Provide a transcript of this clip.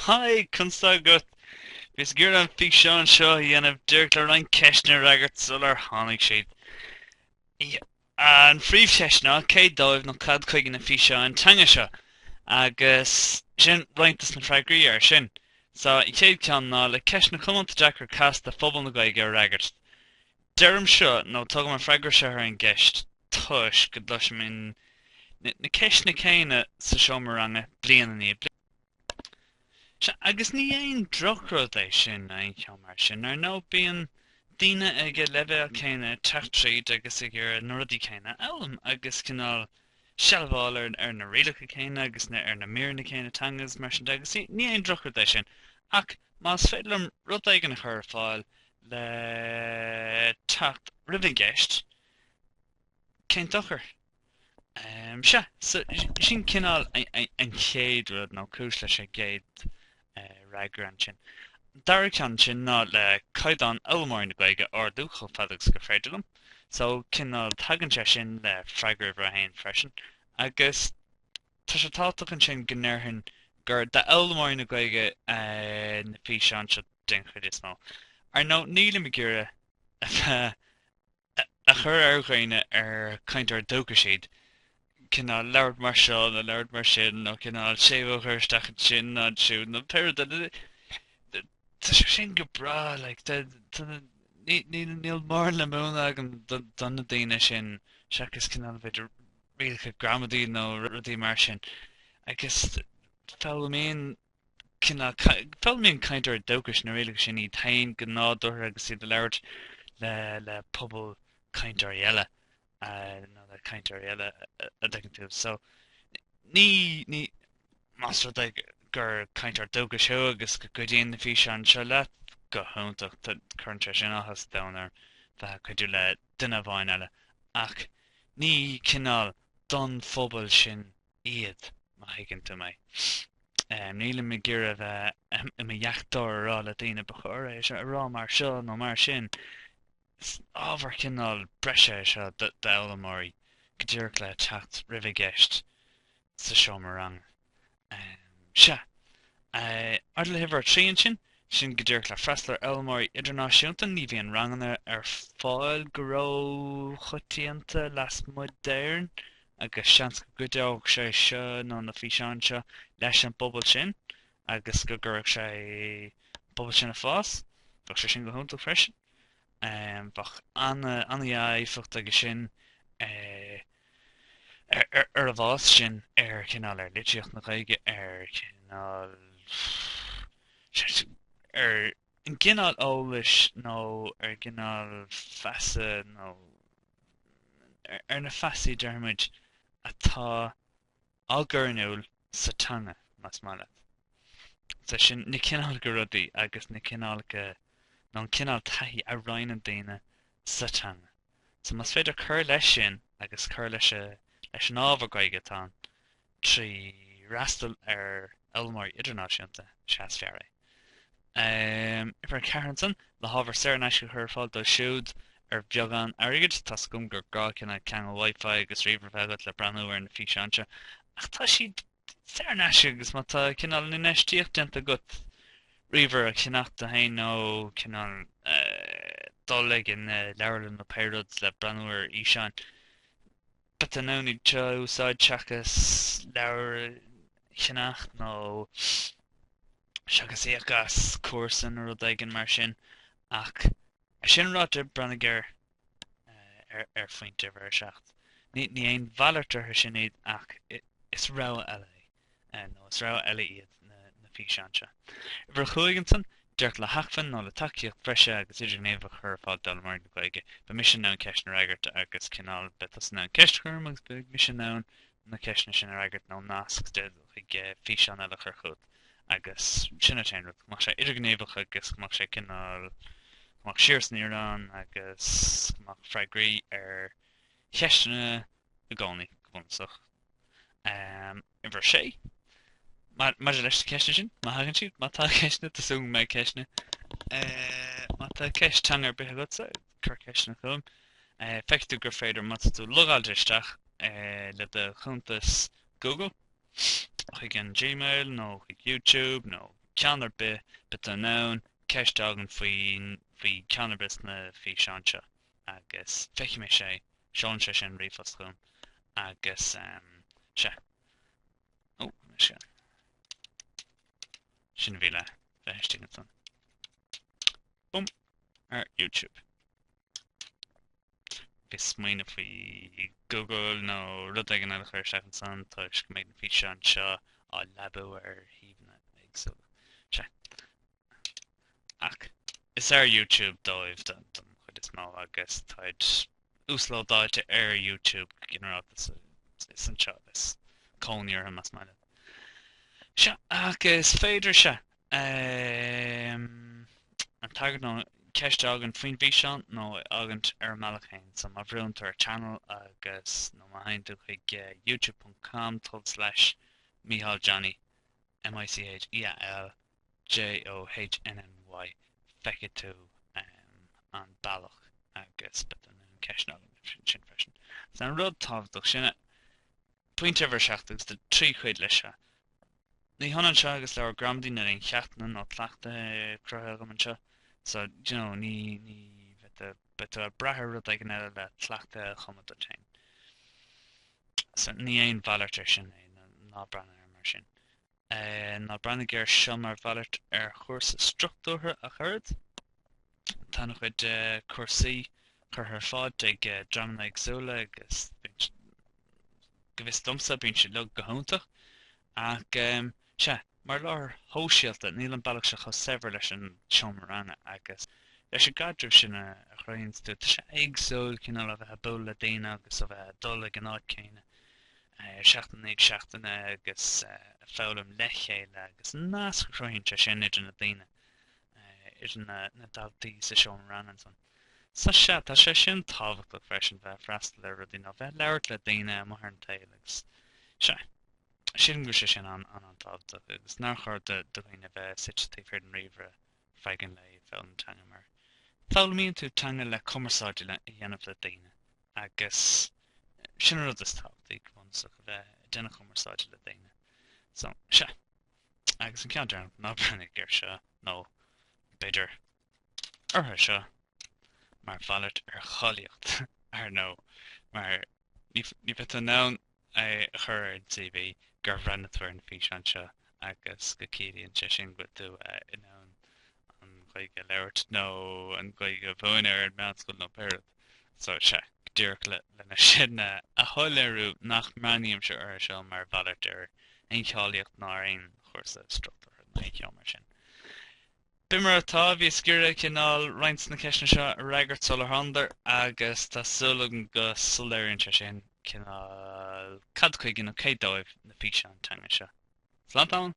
Haigh, conas tá agat? Bhíos ag iarraidh an físeán seo a dhéanamh díreach le roinnt ceisteanna a fhreagairt sular tháinig siad. An phríomhcheist ná cé dóibh nó cad chuige na físeáin teanga seo? Agus sin roinnt dos na freagraí air sin. Só, an chéad ceann ná le ceisteanna comónta deacra casta phobal na Gaeilge a fhreagairt. Deirim seo, nó tugaim an freagra seo ar an gceist, toisc go gcloisim na ceisteanna céanna sa seomra ranga bliain i ndiaidh bliana. Sea, agus ní haon drochrud é sin in aon chor mar sin. Ar ndóigh, bíonn daoine ag an leibhéal céanna ag teacht tríd agus ag iarraidh na rudaí céanna a fhoghlaim, agus cineál sealbháil ar na rialacha céanna agus ar na míreanna céanna teanga agus mar sin de, agus ní haon drochrud é sin. Ach más féidir liom rud éigin a chur ar fáil le teacht roimh an gceist, cén dochar? Sea, so sin cineál an chéad rud, nó cúis leis an gcéad fhreagra ansin. An dara ceann ansin ná le caighdeán fhoghlaimeoirí na Gaeilge a ardú chomh fada agus go féidir liom. So cineál tagann sé sin le freagra uimhir a haon freisin agus. Tá sé tábhachtach ansin go ndéarfainn gur d'fhoghlaimeoirí na Gaeilge na físeáin seo den chuid is mó. Ar ndóigh, nílim ag iarraidh iachall a chur ar dhaoine ar cainteoirí dúchais iad, cineál labhairt mar seo nó labhairt mar sin nó cineál séimhiú a chur isteach ansin nó ansiúd nó pé rud é Tá sé sin go breá, like, níl mórán le múineadh agam do na daoine sin seachas cineál b'fhéidir rialacha gramadaí nó rudaí mar sin agus foghlaimíonn cineál, foghlaimíonn cainteoirí dúchais na rialacha sin iad féin go nádúrtha agus iad ag labhairt le pobal cainteoirí eile nó le cainteoirí eile an dtuigeann tú. So, ní, ní, más rud é gur cainteoir dúchais thú agus go gcuidíonn na físeáin seo leat, go hiontach, tá, cuireann sé sin áthas domhain orm a bheith ag cuidiú le duine amháin eile, ach ní cineál don phobal sin iad, má thuigeann tú mé. Nílim ag iarraidh a bheith i mo dheachtóir ag rá le daoine ba chóir é seo a rá mar seo nó mar sin. Is ábhar cineál breise é seo d'fhoghlaimeoirí go díreach le teacht roimh an gceist sa seomra ranga. Sea, maidir le huimhir a trí ansin, sin go díreach le freastal ar fhoghlaimeoirí idirnáisiúnta, ní bhíonn ranganna ar fáil go róchoitianta lasmuigh d'Éirinn agus seans go gcuideodh sé seo nó na físeáin seo leis an bpobal sin agus go gcuirfeadh sé an pobal sin ag fás, bheadh sé sin go hiontach freisin. Bheadh an-éifeacht aige sin ar a bhfás sin ar chineál, ar litríocht na Gaeilge, ar chineál, ar an gcineál eolais nó ar an gcineál feasa nó ar na feasaí, déarfaimid, atá á gcur in iúl sa teanga, más maith leat. Is é sin, na cineálacha rudaí agus na cineálacha, nó an cineál taithí a roinneann daoine sa teanga. So, más féidir cur leis sin agus cur leis an ábhar Gaeilge atá ann trí fhreastal ar fhoghlaimeoirí idirnáisiúnta, is ea is fearr é. Uimhir 4 ansan, le hábhar saor in aisce a chur ar fáil dóibh siúd ar bheagán airgid. Tá's agam gur gá cineál ceangal Wi-Fi agus ríomhaire a bheith agat le breathnú ar na físeáin seo, ach tá siad saor in aisce agus má tá cineál infheistíocht déanta agat, ríomhaire a cheannacht duit féin nó cineál dul chuig an leabharlann nó pé rud le breathnú ar fhíseáin, but an ainm Dé iad seo a úsáid seachas leabhair a cheannacht nó seachas íoc as cúrsa nó rud éigin mar sin. Ach é sin ráite, breathnaigh ar ar, ar phointe uimhir 7. Ní, ní aon mhalairt orthu sin iad ach is rogha eile é. nó is rogha eile iad na na físeáin seo. Uimhir a chúig ansan, díreach le hacmhainn nó le tacaíocht bhreise agus idirghníomhach a chur ar fáil d'fhoghlaimeoirí na Gaeilge. Beidh mise in ann ceisteanna a fhreagairt agus cineál, beidh tusa in ann ceist a chur orm agus beidh mise in ann na ceisteanna sin a fhreagairt nó nasc chuig físeán eile a chur chugat agus sin an t-aon rud, go mbeadh sé idirghníomhach agus go mbeadh sé cineál, go mbeadh siar is aniar ann agus go mbeadh freagraí ar cheisteanna i gcónaí go bunúsach. Uimhir a sé. Maidir leis na ceisteanna sin, má thagann siad, má tá ceisteanna, tá súil agam go mbeidh ceisteanna. Má tá ceist teanga ar bith agatsa, cuir ceisteanna chugam. Feicfidh tú gur féidir má tá tú logáilte isteach le do chuntas Google, chuig an Gmail nó chuig YouTube nó ceann ar bith, beidh tú in ann ceist a fhágaint faoi cheann ar bith de na físeáin seo. agus feicfidh mé é, seolann sé sin ríomhphost chugam agus sea. Ó, sin, sin a bhí le bheith istigh ansan. Bum! Ar YouTube. Bhíos ag smaoineamh faoi Google nó rud éigin eile a chur isteach ansan toisc go mbeidh na físeáin seo á leabú ar shuíomhanna éagsúla. Sea. ach is ar YouTube dóibh don chuid is mó agus táid uaslódáilte ar YouTube go ginearálta so is anseo is cónaí orthu más maith leat. Sea, ach is féidir sea an tagairt nó ceist a fhágaint faoin bhfíseán nó a fhágaint ar an mbealach féin so má bhrúnn tú ar channel agus nó má théann tú chuig youtube.com/micheáljohnny M-I-C-H-E-A-L J-O-H-N-N-Y Feicfidh tú an bealach agus beidh tú in ann ceisteanna a fhágaint ansin freisin. Is é an rud tábhachtach, sin é, pointe uimhir a seacht agus tá trí chuid leis seo. Ní hionann seo agus leabhar gramadaí níl aon cheachtanna nó cleachtaithe cruthaithe agam anseo, so you know, ní, beidh tú ag brath ar rud éigin eile le cleachtaithe a chumadh duit féin. So ní aon mhalairt ar sin é, ná breathnaigh air mar sin. Ná breathnaigh air seo mar mhalairt ar chúrsa struchtúrtha ach oiread. Tá an-chuid cúrsaí curtha ar fáil ag dreamanna éagsúla agus go bhfios domsa, bíonn siad uilig go hiontach. Ach, sea, mar láthair shóisialta, níl an bealach seo chomh saibhir leis an seomra ranga agus leis an gcaidreamh sin a chruthaíonns tú. Tá sé éagsúil, cineál, ó bheith a' bualadh le daoine agus ó bheith a' dul ag an áit céanna. seachtain i ndiaidh seachtaine agus ag foghlaim le chéile agus an nasc a chruthaíonn sé sin idir na daoine, idir na daltaí sa seomra ranga ansan. So sea, tá sé sin tábhachtach freisin, bheith ag freastal ar rudaí nó bheith ag labhairt le daoine amuigh ar an tsaol agus sea, sílim go bhfuil sé sin an-tábhachtach agus nár chóir do dhaoine bheith suite taobh thiar den ríomhaire. féachaint le bheith ag foghlaim teanga mar foghlaimíonn tú teanga le cumarsáid a dhéanamh le daoine agus sin an rud is tábhachtaí go bunúsach, a bheith ag déanamh cumarsáide le daoine. So, sea. Agus an ceann deireanach, ná breathnaigh air seo nó b'fhéidir orthu seo mar mhalairt ar cháilíocht, ar ndóigh, mar ní bheidh tú in ann é a chur ar CV gur bhreathnaigh tú ar na físeáin seo agus go gciallaíonn sé sin go bhfuil tú in ann an Ghaeilge a labhairt nó an Ghaeilge a mhúineadh ar an meánscoil nó pé rud. So sea, díreach lena sin a shoiléiriú nach mbreathnaímse orthu seo mar mhalairt ar aon cháilíocht ná ar aon chúrsa struchtúrtha nó aon cheo mar sin. B'in mar atá, bhíos ag iarraidh cineál roinnt des na ceisteanna seo a fhreagairt sular thánadar agus tá súil agam go soiléiríonn sé sin cineál cad chuige nó cé dóibh na físeáin teanga seo. Slán tamall!